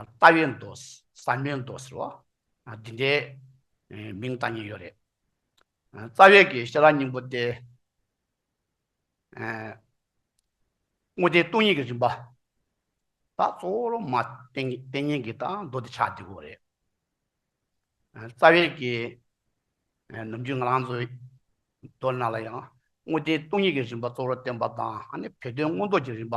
ལྟ་བའི་མདོ། བསམ་པའི་མདོ་ཟེར་བ། འདི་འདྲའི་མིང་བཏགས་ཉེན་ཡོད་རེད། རྩ་བའི་གེགས་ཤེས་རབ་སྙིང་པོ་སྟེ། དངོས་བསྟན་སྟོང་ཉིད་ཀྱི་རིམ་པ། དང་གཙོ་བོར་མ་བསྟན་ཉན་གྱི་དང་མདོ་སྡེ་ཆགས་བསྡུས་སྐོར་རེད། རྩ་བའི་གེགས། ནམ་རྒྱུན་ང་རང་ཚོའི་མདོ་སྣ་ལ་ཡང་དངོས་བསྟན་སྟོང་ཉིད་ཀྱི་རིམ་པ་གཙོ་བོར་བསྟན་པ་དང་བོད་དོན་མངོན་རྟོགས་ཀྱི་རིམ་པ།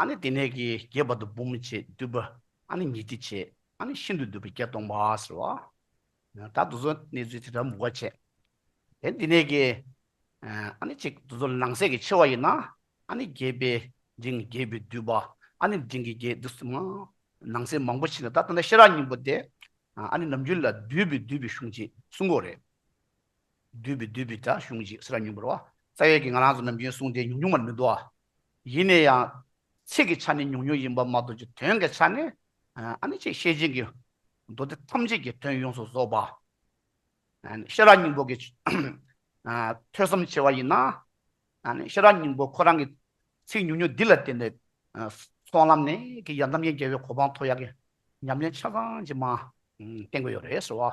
ཨ་ནི་དེ་ནས་ཀྱི་རྒྱས་པར་དུ་བུམ་བྱས་བསྡུས་པ་ཨ་ནི་ཉི་ཁྲི་བྱས་ཨ་ནི་ཤིན་ཏུ་བསྡུས་པ་བརྒྱ་སྟོང་པ་ཟེར་བ། ད་དུ་ཚོད་གནས་ཚུལ་དེ་ལྟར་མུ་ག་བྱས། དེ་འདི་ནས་ཀྱི་ཨ་ནི་ཅིག་དུ་ཚོད་ནང་གསལ་གྱི་ཆེ་བ་ཡིན་ན་ཨ་ནི་རྒྱས་པའི་འབྲིང་རྒྱས་པའི་བསྡུས་པ་ཨ་ནི་འབྲིང་གི་རྒྱས་བསྡུས་སམ། ནང་གསལ་མང་པོ་བྱས་ན་ད་ལྟ་ན་ཤེས་རབ་སྙིང་པོ་སྟེ་ཨ་ནི་ནམ་རྒྱུན་ལ་བསྡུས་པའི་བསྡུས་པའི་གཞུང་གཅིག་གསུང་གོ་རེད། བསྡུས་པའི་བསྡུས་པའི་སྒྲ་གཞུང་གཅིག་སེ་ར་ཉུང་པར་བ། རྩ་གཡས་ཀྱི་ང་རང་ཚོ་ནམ་རྒྱུན་གསུངས་ཏེ་ཉུང་ཉུང་བར་མི་བསྡུ་བ། ཡིན་ནས་ཡང། ཚིག་གི་ཆ་ནས་ཉུང་ཉུང་ཡིན་པར་མ་གཏོགས་ཀྱི་དོན་གྱི་ཆ་ནས། ཨ་ནི་ཆེས་ཤེས་ཅན་གྱི། མདོ་སྡེ་ཐམས་ཅད་ཀྱི་དོན་ཡོངས་སུ་རྫོགས་པ། ཨ་ནི་ཤེས་རབ་སྙིང་པོ་གྱི། ཐོས་བསམ་ཆེ་བ་ཡིན་ན། ཨ་ནི་ཤེས་རབ་སྙིང་པོ་ཁོ་རང་གི། ཚིག་ཉུང་ཉུང་འདི་ལ་བརྟེན་ནས། སོང་ལམ་ནས་ཀྱི་ཡང་དམ་ཅན་རྒྱལ་བའི་གོ་འཕང་མཐོ་ཡག་གི། ཉམས་ལེན་ཆ་ཚང་ཅི་མང། བསྟེན་དགོས་ཡོད་རེད་ཟེར་བ།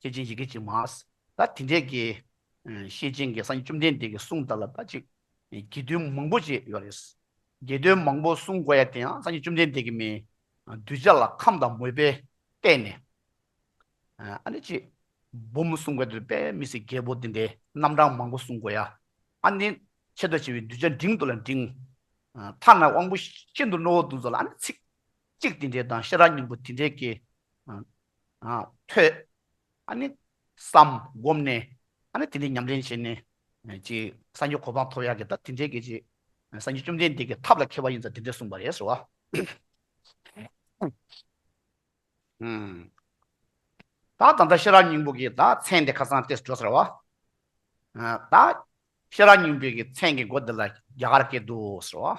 ཤེས་བྱའི་ཡི་གེ་གཅིག་མ། ད་དེ་འདྲའི་གི། ཤེས་བྱའི་འགལ་ས་ནི་བཅོམ་ལྡན་འདས་ཀྱི་གསུང་ལྟར་ལ་ད་ཅིག། དགེ་འདུན་མང་པོ་ཅིག་ཡོད་རེད། དགེ་འདུན་མང་པོ་གསུང་དགོས་ཡ་དེ་ཡང་སངས་རྒྱས་བཅོམ་ལྡན་འདས་ཀྱི་མིང། གདུལ་བྱ་ལ་ཁམས་དང་མོས་པས་བལྟས་ནས། ཨ་ནི་ཅིག། འབུམ་གསུང་དགོས་དེ་དཔེ་མི་སྲིད་རྒྱལ་པོ་དེ་འདྲའི་རྣམ་གྲངས་མང་པོ་གསུང་དགོས་ཡ། ཨ་ནི། ཆེད་དུ་བྱས་པའི་གདུལ་བྱ་འབྲིང་དུ་ལ་འབྲིང། མཐའ་ན་དབང་པོ་ཤིན་ཏུ་རྣོ་བོ་དུ་ཚོ་ལ་ཨ་ནི་ཚིག། གཅིག་དེ་འདྲའི་དང་ཤེས་རབ་སྙིང་པོ་དེ་འདྲའི་གེ། ཐོས། བསམ། བསྒོམས་ནས། དེ་འདྲའི་ཉམས་ལེན་བྱས་ནས། སངས་རྒྱས་གོ་འཕང་ཐོབ་ཡག་གི་ད་དེ་འདྲའི་གེ། སངས་རྒྱས་བཅོམ་ལྡན་འདས་ཀྱི་ཐབས་ལ་མཁས་པ་ཡིན་ཙང་དེ་འདྲའི་གསུངས་པ་རེད་ཟེར་བ། ད་ད་ལྟ་ཤེས་རབ་སྙིང་པོ་གིས་ད་མཚན་དེ་ཁ་སང་ཏེ་འགྲོ་ཟེར་བ། ད། ཤེས་རབ་སྙིང་པོས་ཀྱི་མཚན་གྱི་མགོ་འདི་ལ་རྒྱ་གར་སྐད་དུ་ཟེར་བ།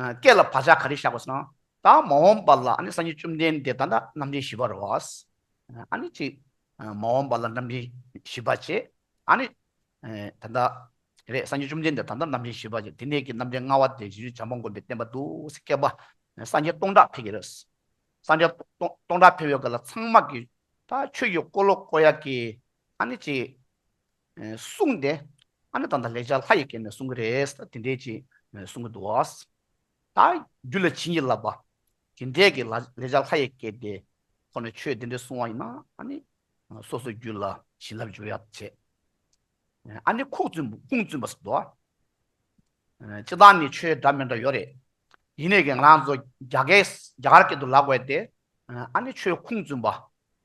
སྐད་ལ་བག་ཆགས་ག་རེ་བཞག་པ་སོང་ད་མ་འོངས་པ་ལ་སངས་རྒྱས་བཅོམ་ལྡན་འདས་དང་ནི་རྣམ་འདྲེན་བཞི་པར་རོ། ཨཱ་ནི་ཅིག། མ་འོངས་པ་ལ་རྣམ་འདྲེན་བཞི་པ་ཅེས་ཨཱ་ནི། ད་ལྟ། རེད་སངས་རྒྱས་བཅོམ་ལྡན་འདས་དང་ནི་རྣམ་འདྲེན་བཞི་པ་ཅེས་དེ་ནས་ཀྱི་རྣམ་འདྲེན་མངའ་བ་དེ་བཞིན་བྱམས་པ་མགོན་པོས་བསྟན་པ་དུ་སེ་སྐད་པ། སངས་རྒྱས་སྟོང་ཕྲག་འཕེལ་གྱི་རོ། སངས་རྒྱས་སྟོང་ཕྲག་འཕེལ་བའི་སྐོར་ལ་ཚངས་མ་གིས། ད་ཆོས་ཀྱི་འཁོར་ལོ་བསྐོར་ཡ་གི། ཨཱ་ནི་ཅིག། གསུངས་ཏེ། ཨ་ནི་དང་ད་ལེགས་སྦྱར་ལྷ་ཡི་གེ་ནས་གསུང་གི་རེད། དེ་འདྲའི་ཅི་གསུང་གི་འདུག། ད་རྒྱུད་ལ་བྱིན་གྱིས་བརླབས་པ། དེ་འདྲས་ཀྱི་ལེགས་སྦྱར་ལྷ་ཡི་གེ་དེ་ཁོ་ནས་ཆོས་དེ་འདྲས་གསུང་བ་ཡིན་ན་ཨ་ནི། སོ་སོའི་རྒྱུད་ལ་བྱིན་རླབས་འཇུག་ཡག་བྱེད། ཨ་ནི་ཁུངས་བཙུན་པ་ཟེར་འདུག། སྤྱི་བཏང་ནི་ཆོས་འདྲ་མི་འདྲ་ཡོད་རེད། ཡིན་ནས་ཀྱི་ང་རང་ཚོ་རྒྱ་གར་སྐད་དུ་ལ་བཀོད་དེ་ཨ་ནི་ཆོས་ཁུངས་བཙུན་པ།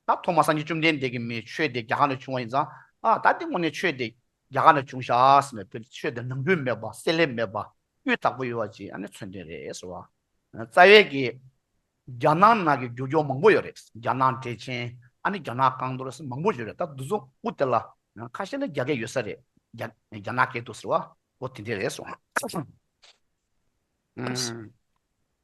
ད་ཐོག་མ་སངས་རྒྱས་བཅོམ་ལྡན་འདས་ཀྱི་མི་ཆོས་དེ་རྒྱ་གར་ནས་བྱུང་བ་ཡིན་ཙང་ད་ལྟའི་སྔོན་ནས་ཆོས་དེ་རྒྱ་གར་ནས་བྱུང་ཤག་ཟེར་ནས་དེར་ཆོས་དེ་ནང་དོན་མེད་པ་གསལ་ལེ་མེད་པ་སྤུས་དག་པོ་ཡོད་པ་ཅིག་ཨ་ནི་མཚོན་དོན་རེད་ཟེར་བ། རྩ་བའི་གི། རྒྱ་ནག་ནང་གི་རྒྱུ་སྐྱོར་མང་པོ་ཡོད་རེད་རྒྱ་ནག་འགྲེལ་ཆེན་ཨ་ནི་རྒྱ་ནག་རྐང་འདོར་ཟེར་མང་པོ་ཡོད་རེད་ད་འདུག་ཚོགས་དབུ་དེ་ལ་ཁ་ཤས་ནི་རྒྱ་སྐད་ཡོད་ས་རེད་རྒྱ་ནག་སྐད་འདུག་ཟེར་བ་འོ་དེ་འདྲས་རེད་སོང།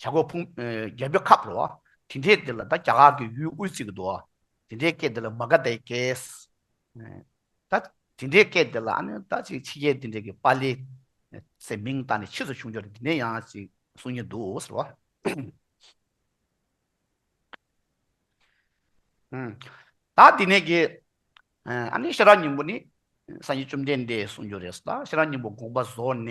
བྱ་རྒོད་ཕུང། རྒྱལ་པོའི་ཁབ་རོ། དེ་འདྲའི་འདི་ལ་ད་རྒྱ་གར་གྱི་ཡུལ་དབུས་ཚིག་གི་དོ། དེ་འདྲའི་སྐད་འདི་ལ་མ་ག་དའི་སྐད། ད། དེ་འདྲའི་སྐད་འདི་ལ་ཨ་ནི་ད་ཅིག་ཕྱི་རྒྱལ་དེ་འདྲའི་གི་པཱ་ལི། སའི་མིང་ད་ནི་ཕྱིས་སུ་བྱུང་ཆོག་དེ་འདྲའི་ཡང་ཅིག་གསུང་གིན་འདུག་ཟེར་བ། ད་དེ་ནས་གི། ཨ་ནི་ཤེས་རབ་སྙིང་པོ་ནི། སངས་རྒྱས་བཅོམ་ལྡན་འདས་གསུང་རྒྱུ་རེད་ད་ཤེས་རབ་སྙིང་པོ་དགོངས་པ་བཟོ་ནས།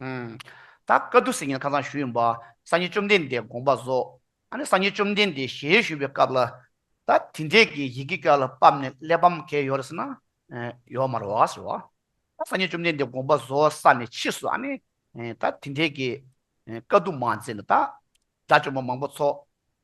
ད་བཀའ་བསྡུ་ཟེར་མཁན་ཁ་ཚང་ཞུ་ཡོད་པ། སངས་རྒྱས་བཅོམ་ལྡན་འདས་དགོངས་པ་རྫོགས། ཨ་ནི་སངས་རྒྱས་བཅོམ་ལྡན་འདས་ཞལ་བཞུགས་པའི་སྐབས་ལ། ད་དེ་འདྲས་ཀྱི་ཡི་གེ་སྐྱོ་ལ་སྤམ་ནས་གླེགས་བམ་གས་ཡོད་རེད་ཟེར་ན། ཡོད་མ་རེད་བ་ཟེར་བ། ད་སངས་རྒྱས་བཅོམ་ལྡན་འདས་དགོངས་པ་རྫོགས་ས་ནས་ཕྱིས་སུ་ཨ་ནི། ད་དེ་འདྲས་ཀྱི་བཀའ་བསྡུ་མ་མཛད་ན་ད། དགྲ་བཅོམ་པ་མང་པོ་ཚོགས།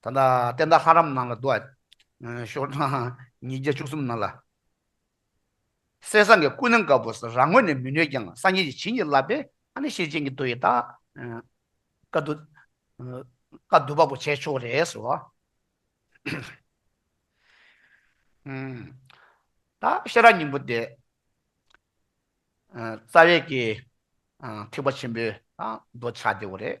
ད་ལྟ་བསྟན་དག་ཧ་རམ་ནང་ལ་འདུག། ཤོར་ཐང་ཉིས་བརྒྱ་བཅུ་གསུམ་ནང་ལ། གསེར་ཟངས་ཀྱི་ཀུན་སྣང་དཀར་པོ་རང་ངོས་ནས་མི་ནུས་ཀྱང་སངས་རྒྱས་ཀྱི་བྱིན་གྱིས་བརླབས་པས་ཨ་ནི་ཤེར་ཕྱིན་གྱི་མདོ་ཡི་རྟགས། བཀའ་བསྡུ་པ་པོ་བྱས་ཆོག་རེད་ཟེར་བ། ད་ཤེས་རབ་སྙིང་པོ་དེ། རྩ་བའི་གེགས། ཐེག་པ་ཆེན་པོའི་མདོ་ཆགས་བདེ་བོ་རེད།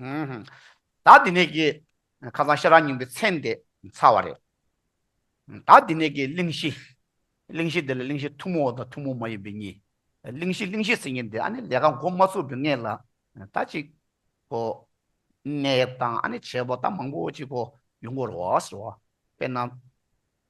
བདག་འདི་ནས་ཀྱི། ཁ་སང་ཤ་ར་སྙིང་པོའི་མཚན་དེ་ཚར་བ་རེད། བདག་འདི་ནས་ཀྱི་གླིང་བཞི། གླིང་བཞི་དེ་ལ་གླིང་བཞི་ཐུན་མོང་བ་དང་ཐུན་མོང་མ་ཡིན་པའི་གཉིས། གླིང་བཞི་གླིང་བཞི་ཟེར་ངེས་འདི་ཨ་ནི་ལས་ཀ་མགོ་མ་ཚུགས་པའི་སྔས་ལ། ད་ཅིག། གོ། གནས་དང་ཨ་ནི་བྱེད་པོ་ད་མང་པོ་ཅིག་གོ་ཡོང་གོ་རོ་ཟེར་བ། དཔེར་ན།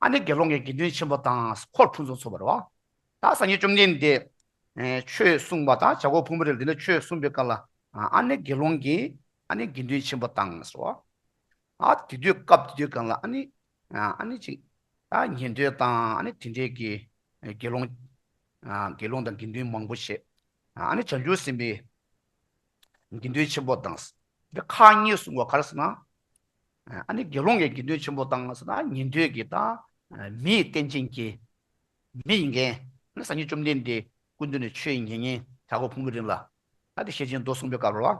ཨ་ནི་དགེ་སློང་གི་དགེ་འདུན་ཆེན་པོ་དང་འཁོར་ཕུན་ཚོགས་ཚོགས་པར་བ། ད་སངས་རྒྱས་བཅོམ་ལྡན་འདས་ཆོས་གསུངས་པ་དང་བྱ་རྒོད་ཕུང་པོ་རེ་རེ་འདི་ལ་ཆོས་གསུངས་པའི་སྐབས་ལ་ཨ་ནི་དགེ་སློང་གིས་ཨ་ནི་དགེ་འདུན་ཆེན་པོ་དང་ཟེར་བ། ཨ་དེ་དུས་སྐབས་དེ་དུས་གང་ལ་ཨ་ནི་ཨ་ནི་ཅིག། ད་ཉན་ཐོས་དང་ཨ་ནི་དེ་འདྲས་ཀྱི་དགེ་སློང། དགེ་སློང་དང་དགེ་འདུན་མང་པོ་ཞེས་ཨ་ནི་བྱང་ཆུབ་སེམས་དཔའི་དགེ་འདུན་ཆེན་པོ་དང། འདི་ཁག་གཉིས་གསུངས་པ་ག་རེ་ཟེར་ན། ཨ་ནི་དགེ་སློང་གི་དགེ་འདུན་ཆེན་པོ་དང་ཟེར་ན་ཉན་ཐོས་ཀྱི་དང། མི་ཡི་རྟེན་ཅན་གྱི། མི་ཡི་འགན། ནི་སངས་རྒྱས་བཅོམ་ལྡན་འདས། ཀུན་འདུས་ནས་ཆོས་ཡིན་ཉེ་ཉན། བྱ་གོག་ཕུང་པོའི་རིན་ལ། ཨ་ཏི་ཤའི་སྦྱིན་མདོ་གསུངས་པའི་སྐབས་ལ།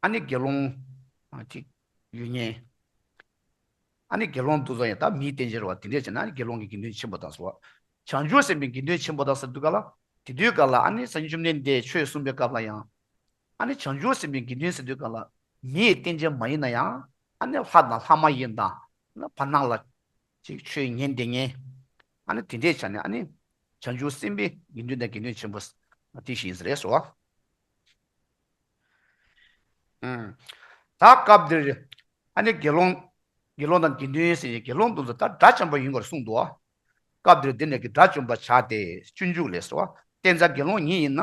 ཨ་ནི་དགེ་སློང། ཅིག། ཡོད་ཉན། ཨ་ནི་དགེ་སློང་འདུ་འཛོ་ཡང་དག་མི་ཡི་རྟེན་ཅན་རེ་བ་དེ་འདྲས་བྱས་ན་དགེ་སློང་གི་དགེ་འདུན་ཆེན་པོ་དང་ཟེར་བ། བྱང་ཆུབ་སེམས་དཔའི་དགེ་འདུན་ཆེན་པོ་དང་ཟེར་དུས་ག་ལ། དེ་དུས་ག་ལ་ཨ་ནི་སངས་རྒྱས་བཅོམ་ལྡན་འདས་ཆོས་གསུངས་པའི་སྐབས་ལ་ཡང། ཨ་ནི་བྱང་ཆུབ་སེམས་དཔའི་དགེ་འདུན་སེམས་དཔའི་བཀའ་ལ། མི་ཡི་རྟེན་ཅན་མ་ཡིན་ན་ཡང། ཨ་ནི་ལྷ་དང་ལྷ་མ་ཡིན་དང། ལ་བར་སྣང་ལ། ཅིག་ཆོས་ཉན་དེ་ཉན། ཨ་ནི་དེ་འདྲའི་ཆ་ནས་ཨ་ནི། བྱང་ཆུབ་སེམས་དཔའི་དགེ་འདུན་དང་དགེ་འདུན་ཆེན་པོ། དེ་བཞིན་ཟེར་རེས་སོ། ད་སྐབས་འདིར། ཨ་ནི་དགེ་སློང། དགེ་སློང་དང་དགེ་འདུན་སེམས་ཅན་དགེ་སློང་དུ་མཛད་ལྟར་དགྲ་བཅོམ་པ་ཡིན་པར་གསུངས་ཏོ། སྐབས་འདིར་འདི་ནས་ཀྱི་དགྲ་བཅོམ་པར་བྱ་སྟེ། སྤྱོད་འཇུག་ལས་སོ། བསྟན་བྱ་དགེ་སློང་ཉིད་ཡིན་ན།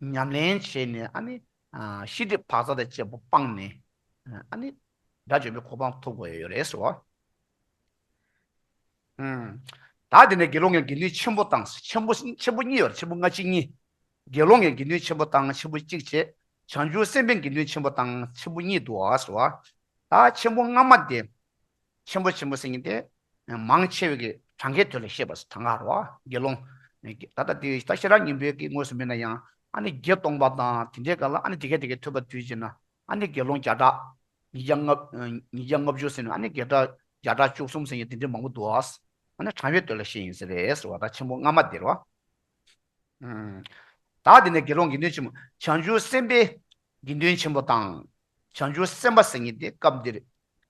ཉམས་ལེན་བྱས་ནས་ཤེས་སྒྲིབ་བག་ཚ་དང་བཅས་པ་སྤངས་ནས་སྒྲ་བརྗོད་པའི་གོ་འཕང་ཐོབ་དགོས་ཡོད་རེད་ཟེར་བ། ད་དེ་ནས་དགེ་སློང་ངའི་དགེ་འདུན་ཆེན་པོ་དང་ཆེན་པོ་ཆེན་པོ་གཉིས་བར་ཆེན་པོ་སྔ་ཕྱི་གཉིས། དགེ་སློང་ངའི་དགེ་འདུན་ཆེན་པོ་དང་ཆེན་པོ་གཅིག་བྱེད་བྱང་ཆུབ་སེམས་དཔའི་དགེ་འདུན་ཆེན་པོ་དང་ཆེན་པོ་གཉིས་འདུ་བ་ཟེར་བ། ད་ཆེན་པོ་སྔ་མ་དེ། ཆེན་པོ་ཆེན་པོ་སེང་གེ་སྟེ། མང་ཆེ་བའི་གྲངས་ཀའི་དོན་ལ་བཤད་པ་དང་ག་རོ། དགེ་སློང། ད་ལྟ་དེ་ལྟར་ཤེས་རབ་སྙིང་པོའི་དགེ་དངོས་སུ་མེད་ན་ཡང་ཨ་ནི་བརྒྱད་སྟོང་པ་དང་དེ་འདྲའི་སྐ་ལ་ཨ་ནི་དེ་སྐད་དེ་སྐད་ཐོས་པ་དུས་ཅན་ན་ཨ་ནི་དགེ་སློང་བརྒྱ་ཕྲག། ཉིས་བརྒྱ་ལྔ། ཉིས་བརྒྱ་ལྔ་བཅུ་ཟེར་ནས་ཨ་ནི་བརྒྱད་ཕྲག་བརྒྱ་ཕྲག་བཅུ་གསུམ་ཟེར་ཡང་དེ་འདྲའི་མང་པོ་འདུག་ཨ། ཨ་ནི་གྲངས་ཀའི་དོན་ལ་བཤད་ཡིན་ཟེར་བས་ཟེར་བ་དང་ཆེན་པོ་སྔ་མ་དེར་བ། བདག་དེ་ནས་དགེ་སློང་དགེ་འདུན་ཆེན་མོ་བྱང་ཆུབ་སེམས་དཔའི་དགེ་འདུན་ཆེན་པོ་དང། བྱང་ཆུབ་སེམས་དཔའ་སེང་གེ་སྟེ་སྐབས་འདིར།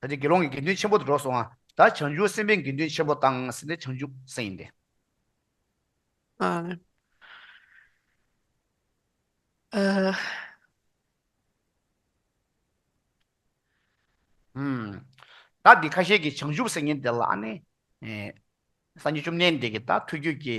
ད་ནི་དགེ་སློང་གི་དགེ་འདུན་ཆེན་པོ་དུ་འགྲོ་སོང་ང། ད་བྱང་ཆུབ་སེམས་དཔའི་དགེ་འདུན་ཆེན་པོ་དང་ཟེར་ནས་བྱང་ཆུབ་སེམས་ཡིན་ཏེ། བདག་གི་ཁ་ཤས་ཀྱི་བྱང་ཆུབ་སེམས་ཡིན་དེ་ལ་ནི། སངས་རྒྱས་བཅོམ་ལྡན་འདས་ཀྱིས་ད་ཐུགས་རྒྱུད་ཀྱི།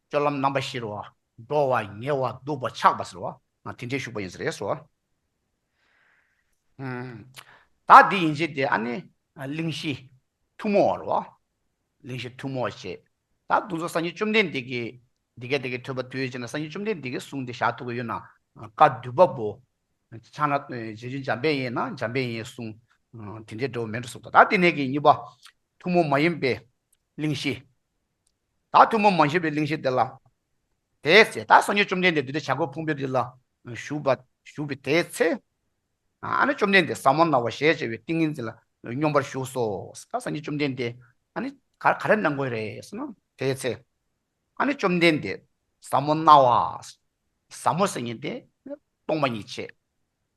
སྤྱོད་ལམ་རྣམ་པ་བཞིར་བ། འགྲོ་བ། ཉལ་བ། འདུག་པ། འཆག་པ། ཟེར་བ། དེ་འདྲའི་ཞུགས་པ་ཡིན་ཟེར་རེས་སོ། བདག་འདི་ཡིན་བྱས་ཏེ་ཨ་ནི། གླིང་བཞི། ཐུན་མོང་བར་བ། གླིང་བཞི་ཐུན་མོང་བར་བྱེད། བདག་འདུ་འཛོ་སངས་རྒྱས་བཅོམ་ལྡན་འདས་ཀྱིས། འདི་སྐད་དེ་ཀའི་ཐོས་པ་དུས་ཡོད་ཅེ་ན་སངས་རྒྱས་བཅོམ་ལྡན་འདས་ཀྱིས་གསུངས་ཏེ་ཞག་ཐུག་གི་ཡོད་ན། བཀའ་བསྡུས་པ་པོ། ཕྱག་ན་རྗེས་འཇུག་འཇམ་དཔལ་ཡེ་ན་འཇམ་དཔལ་ཡེའི་གསུང། དེ་འདྲའི་འགྲོ་བ་མེད་འགྲོ་གསུང་དོ་བདག་འདི་ནས་ཀྱི་གཉིས་པ། ཐུན་མོང་མ་ཡིན་པའི། གླིང་བཞི། བདག་ཐུན་མོང་མ་ཞེས་པའི་གླིང་བཞི་དེ་ལ། དེའི་ཚེ་བདག་སངས་རྒྱས་བཅོམ་ལྡན་འདས་བདུད་དང་བྱ་རྒོད་ཕུང་པོའི་རི་ལ་བཞུགས་པ། དེའི་ཚེ། བཅོམ་ལྡན་འདས་ཟབ་མོ་ན་བ་ཞལ་ཕྱེ་བའི་ཏིང་ངེ་འཛིན་ལ་སྙོམས་པར་ཞུགས་སོ། བདག་སངས་རྒྱས་བཅོམ་ལྡན་འདས། ག་རེ་གནང་དགོས་རེད་ཟེར་ན། དེའི་ཚེ། བཅོམ་ལྡན་འདས། ཟབ་མོ་ན་བ། ཟབ་མོ་སེམས་ཉིད་དེ། སྟོང་པ་ཉིད་བྱེད།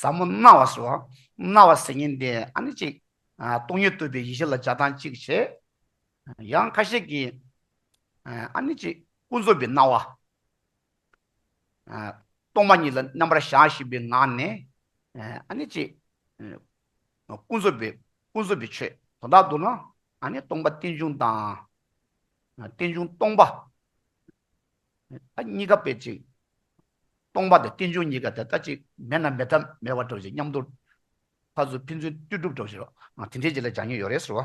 ཟབ་མོ་རྣ་བ་སོ། རྣ་བ་ཟེར་ཉིན་དེ་ཨ་ནི་གཅིག། སྟོང་ཉིད་བཏུས་པའི་ཡེ་ཤེས་ལ་སྦྱར་སྟངས་གཅིག་བྱེད། ཡང་ཁ་ཤས་ཀྱིས། ཨ་ནི་གཅིག་ཀུན་རྫོབ་པའི་སྣང་བ། སྟོང་པ་ཉིད་ལ་རྣམ་པར་བཞག་བཞིན་པའི་ངང་ནས། ཨ་ནི་གཅིག། ཀུན་རྫོབ་པའི་ཀུན་རྫོབ་པའི་ཆོས་དོ་བདག་འདུག་ན། ཨ་ནི་སྟོང་པ་རྟེན་འབྱུང་དང། རྟེན་འབྱུང་སྟོང་པ། གཉིས་ཀ་དཔེ་གཅིག། སྟོང་པ་དང་རྟེན་འབྱུང་གཉིས་ཀ་དེ་ལྟ་གཅིག་མེད་ན་མེད་ཐབས་མེད་བར་གྲུབ་བྱེད་མཉམ་དུ་ཕར་ཚུར་ཕན་ཚུན་ལྟོས་གྲུབ་གྲུབ་བྱེད་རོ། དེ་འདྲའི་རྗེས་ལ་སྦྱང་ཉེན་ཡོད་རེད་ཟེར་བ།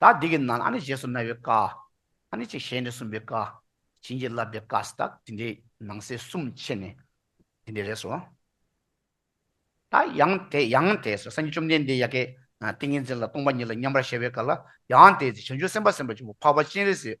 ད་འདི་གི་ནང་ལ་ཨ་ནི་རྗེས་སུ་གནང་བའི་བཀའ། ཨ་ནི་གཅིག་ཞལ་ནས་གསུངས་པའི་བཀའ། བྱིན་གྱིས་བརླབས་པའི་བཀའ་སི་ཏག་དེ་འདྲའི་ནང་གསེས་གསུམ་ཕྱེ་ནས་དེ་འདྲའི་རེད་སོ། ད་ཡང་དེ་ཡང་དེ་སོ་སངས་རྒྱས་བཅོམ་ལྡན་འདས་ཡ་གེ། ཏིང་ངེ་འཛིན་ལ་སྟོང་པ་ཉིད་ལ་མཉམ་པར་གཞལ་བའི་བཀའ་ལ་ཡང་དེ་སོ་བྱང་ཆུབ་སེམས་དཔའ་སེམས་དཔའ་ཆེན་པོ་འཕགས་པ་སྤྱན་རས་གཟིགས་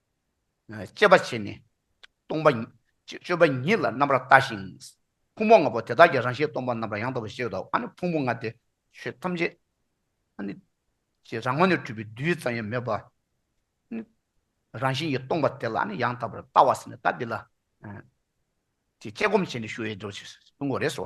སྤྱད་པ་བྱས་ནས། སྟོང་པ། སྤྱོད་པ་ཉིད་ལ་རྣམ་པར་ལྟ་ཞིང། ཕུང་པོ་ལྔ་པོ་དེ་དག་གི་རང་བཞིན་སྟོང་པ་རྣམ་པར་ཡང་དག་པར་ཤེས་པ་དང། ཕུང་པོ་ལྔ་སྟེ་ཆོས་ཐམས་ཅད། ཀྱི་རང་ངོ་ནས་སྤྲུལ་པའི་རྡུལ་ཙམ་ཡང་མེད་པ། རང་བཞིན་གྱིས་སྟོང་པ་དེ་ལ་ཡང་དག་པར་ལྟ་བ་ཟེར་ནས་ལྟ་འདི་ལ། ཀྱི་དཔྱད་སྒོམ་བྱས་ནས་ཞུ་བའི་སྒྲུབ་བྱེད་ཀྱི་ངོ་རེ་སོ།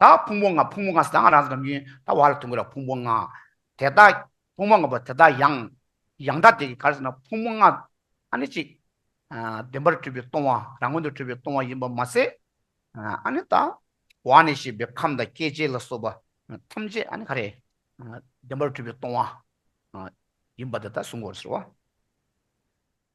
ད་ཕུང་པོ་ལྔ་ཕུང་པོ་ལྔ་ཟླ་ལྔ་རང་ས་ཁམས་ཡུན་ད་བར་དུ་འགོད་ལ་ཕུང་པོ་ལྔ། དེ་དག་ཕུང་པོ་ལྔ་པོ་དེ་དག་ཡང། ཡང་དག་དེ་གི་གར་ཟེར་ན་ཕུང་པོ་ལྔ་ཨ་ནི་གཅིག། བདེན་པར་སྤྲུལ་པའི་སྟོང་བ་རང་ངོ་ནས་སྤྲུལ་པའི་སྟོང་བ་ཡིན་པར་མ་ཟད། ཨ་ནི་ད་བར་ནས་ཞེས་པའི་ཁམས་དང་སྐྱེ་མཆེད་ལ་སོགས་པ་ཐམས་ཅད་ཨ་ནི་ག་རེ། བདེན་པར་སྤྲུལ་པའི་སྟོང་བ། ཡིན་པར་དེ་ལྟར་གསུངས་སྐོར་ཟེར་བ།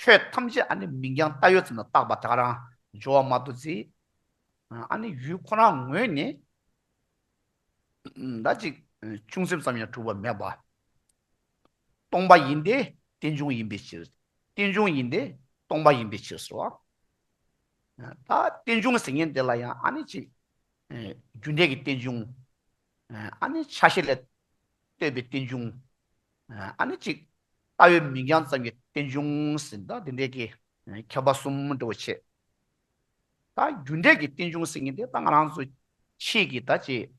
ཆོས་ཐམས་ཅད་ཨ་ནི་མིང་རྐྱང་བལྟ་ཡོད་ཙམ་ལ་བཏགས་པ་དག་རང་སྦྱོར་བ་མ་བཏུ་ཚེ། ཨ་ནི་ཡུལ་ཁོ་རང་ངོས་ནས་ཟླ་གཅིག་ཅུང་ཟད་ཙམ་ཡང་གྲུབ་པ་མེད་པ། སྟོང་པ་ཡིན་ཏེ་རྟེན་འབྱུང་ཡིན་པའི་ཕྱིར། རྟེན་འབྱུང་ཡིན་ཏེ་སྟོང་པ་ཡིན་པའི་ཕྱིར་ཟེར་བ། ད་རྟེན་འབྱུང་ཟེར་མཁན་དེ་ལ་ཡང་ཨ་ནི་ཅི། རྒྱུ་འབྲས་ཀྱི་རྟེན་འབྱུང། ཨ་ནི་ཆ་ཤས་ལས་བཏོན་པའི་རྟེན་འབྱུང། ཨ་ནི་གཅིག། ལྟ་བའི་མིང་རྐྱང་ཙམ་གྱི་རྟེན་འབྱུང་ཟིན་ཏོ། འདི་འདྲའི་གི། ཁྱབ་པ་གསུམ་འགྲོ་བའི་ཆེད། ད་རྒྱུ་འབྲས་ཀྱི་རྟེན་འབྱུང་ཟིན་ངེས་ཏེ་ད་ང་རང་ཚོ་ཕྱིས་ཀྱི་ད་ཅེས།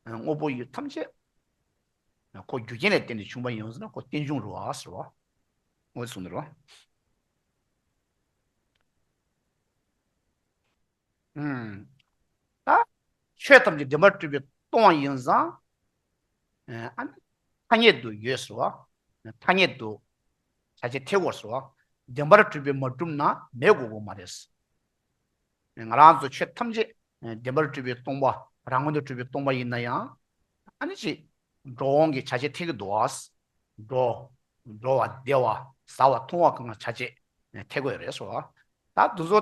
དངོས་པོ་ཡོད་ཐམས་ཅད། ཁོ་རྒྱུ་རྐྱེན་ལས་བརྟེན་ནས་བྱུང་པ་ཡིན་ཟེར་ན་ཁོ་རྟེན་འབྱུང་རོ་ཟེར་བ། དངོས་གཟུགས་འདི་རོ། ཆོས་ཐམས་ཅད་བདེན་པར་སྤྲུལ་པའི་སྟོང་བ་ཡིན་ཙང། ཐ་སྙད་དུ་ཡོད་སྲིད་བ། ཐ་སྙད་དུ་བྱ་བྱེད་ཐེ་བོར་སྲིད་བ། བདེན་པར་སྤྲུལ་པས་མ་གྲུབ་ན་མེད་དགོས་དགོས་མ་རེད། ང་རང་ཚོ་ཆོས་ཐམས་ཅད་བདེན་པར་སྤྲུལ་པའི་སྟོང་པ་རང་ངོ་ནས་སྤྲུལ་པའི་སྟོང་པ་ཡིན་ན་ཡང། ཨ་ནི་ཅི། འགྲོ་འོང་གི་བྱ་བྱེད་ཐེ་གི་འདུག་བ། འགྲོ། འགྲོ་བ་བདེ་བ་བཟའ་བ་འཐུང་བ་གང་ལ་བྱ་བྱེད་ཐེ་དགོས་རེད་སྲིད་བ། ད་འདུག་ཚོ།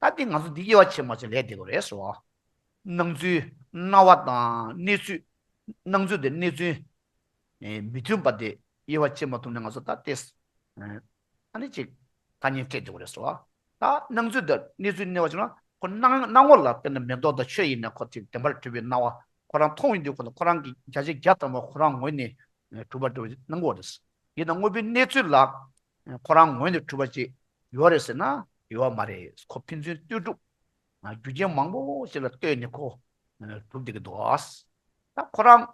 ད་ལྟའི་ང་ཚོ་འདི་དབྱེ་བ་ཕྱེ་མ་ཕྱེ་ལས་འདས་པ་རེད་སོ། སྣང་ཚུལ། སྣང་བ་དང་གནས་ཚུལ། སྣང་ཚུལ་དང་གནས་ཚུལ། མི་མཐུན་པ་དེ་དབྱེ་བ་ཕྱེ་མ་ཐུབ་ནས་ང་ཚོ་ད་ལྟའི། ད་ནི་ཅིག། ཐ་སྙད་སྤྲད་འདོད་པ་རེད་སོ། ད་སྣང་ཚུལ་དང་གནས་ཚུལ་གནས་བ་ཕྱེ་ན་ཁོ་སྣང་སྣང་ངོ་ལ་བལྟས་ན་མེ་ཏོག་དང་ཆོས་དབྱིངས་ནས་ཁོ་དེ་བདེན་པར་གྲུབ་པའི་སྣང་བ་ཁོ་རང་མཐོང་ཡོད་དུས་ཁོ་ལ་ཁོ་རང་གི་བརྒྱ་ཆའི་བརྒྱ་ཙམ་བ་ཁོ་རང་ངོས་ནས་གྲུབ་པར་འགྲོ་བའི་སྣང་ངོ་རེད། དེས་ན་དངོས་པོའི་གནས་ཚུལ་ལ་ཁོ་རང་ངོས་ནས་གྲུབ་པ་ཅིག་ཡོད་རེད་ཟེར་ན་ཡོད་མ་རེད་ཁོ་ཕན་ཚུན་ལྟོས་གྲུབ། རྒྱུ་རྐྱེན་མང་པོ་ཞིག་ལ་ལྟོས་ནས་ཁོ་གྲུབ་བསྡད་ཀྱི་འདུག་ད་ཁོ་རང་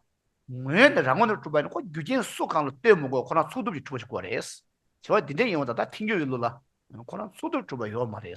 ངོས་ནས་རང་ངོས་ནས་གྲུབ་པ་ཡིན་ན་ཁོ་རྒྱུ་རྐྱེན་སུ་གང་ལ་ལྟོས་མི་དགོས་ཁོ་རང་ཚུགས་ཐུབ་ཀྱིས་གྲུབ་པ་ཞིག་དགོས་རེད། བྱ་བ་འདི་འདྲའི་ཡིན་བ་ད་ལྟ་འཐེན་རྒྱུ་ཡོད་ལུགས་ལ་ཁོ་རང་ཚུགས་ཐུབ་གྲུབ་པ་ཡོད་མ་རེད།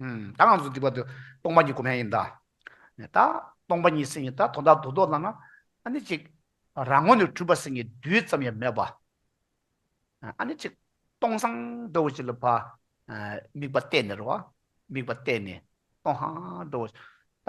ད་ང་ཚོ་འདི་བར་དུ་སྟོང་པ་ཉིད་སྒོམ་ཡ་ཡིན་ད། ད་སྟོང་པ་ཉིད་སེང་གེ་ད་དོ་ད་དོ་དོ་ལ་ན་ཨ་ནི་ཅིག། རང་ངོ་ནས་གྲུབ་པ་སེང་གེ་རྡུལ་ཙམ་ཡང་མེད་པ། ཨ་ནི་ཅིག། སྟོང་སང་འགྲོ་བ་ཅིག་ལ་བ། དམིགས་པ་གཏད་ནས་རོ། དམིགས་པ་གཏད་ནས་སྟོང་སང་འགྲོ་བ། ད་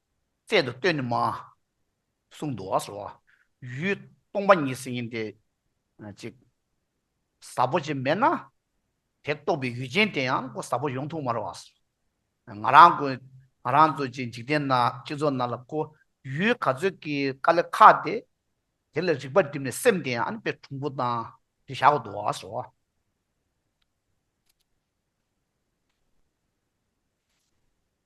བཙལ་དུ་བཏོན་ནི་མ། གསུང་དུ་བ་སོ། ཡུལ་སྟོང་པ་ཉིད་ཟིན་ཡིན་ཏེ། གཅིག། ཟབ་པོ་ཅན་མེད་ན། དེ་རྟོགས་པའི་ཡུལ་ཅན་དེ་ཡང་སྒོ་ཟབ་པོ་ཡོངས་ཐུགས་མ་རོ། ང་རང་གོ། ང་རང་ཚོ་བཅས་འཇིག་རྟེན་ན་སྤྱི་ཚོགས་ན་ལ་གོ། ཡུལ་ག་ཚོད་ཀྱི་ཀ་ལེ་ཁ་དེ། དེ་ལ་རིག་པ་བསྒྲིམས་ནས་སེམས་དེ་ཡང་དཔེ་གྲུང་པོ་དང་དེ་བཞག་གོ་དུ་བ་སོ།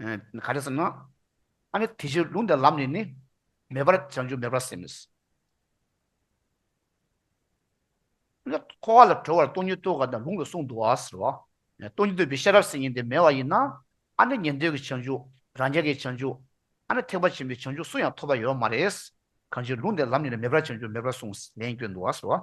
ག་རེ་ཟེར་ན། ཨ་ནི་དེ་བཞིན་ལུང་དེ་ལམ་ནས་ནི། མེད་པར་བྱང་ཆུབ་མེད་པར་སེམས་མི། འཁོར་བ་ལ་གྲོལ་བར་སྟོང་ཉིད་བསྟོད་ག་དང་ལུང་ལ་གསུངས་འདུག་ཟེར་བ། སྟོང་ཉིད་བསྟོད་པའི་ཤེས་རབ་སེམས་ཉིད་དེ་མེད་བ་ཡིན་ན། ཨ་ནི་ཉན་ཐོས་ཀྱི་བྱང་ཆུབ་རང་རྒྱལ་གྱི་བྱང་ཆུབ། ཨ་ནི་ཐེག་པ་ཆེན་པོའི་བྱང་ཆུབ་སུ་ཡང་ཐོབ་པ་ཡོད་མ་རེད། གང་ཕྱིར་ལུང་དེ་ལམ་ནས་ནི་མེད་པར་བྱང་ཆུབ་མེད་པར་གསུངས་ལན་བསྐྱོན་འདུག་ཟེར་བ།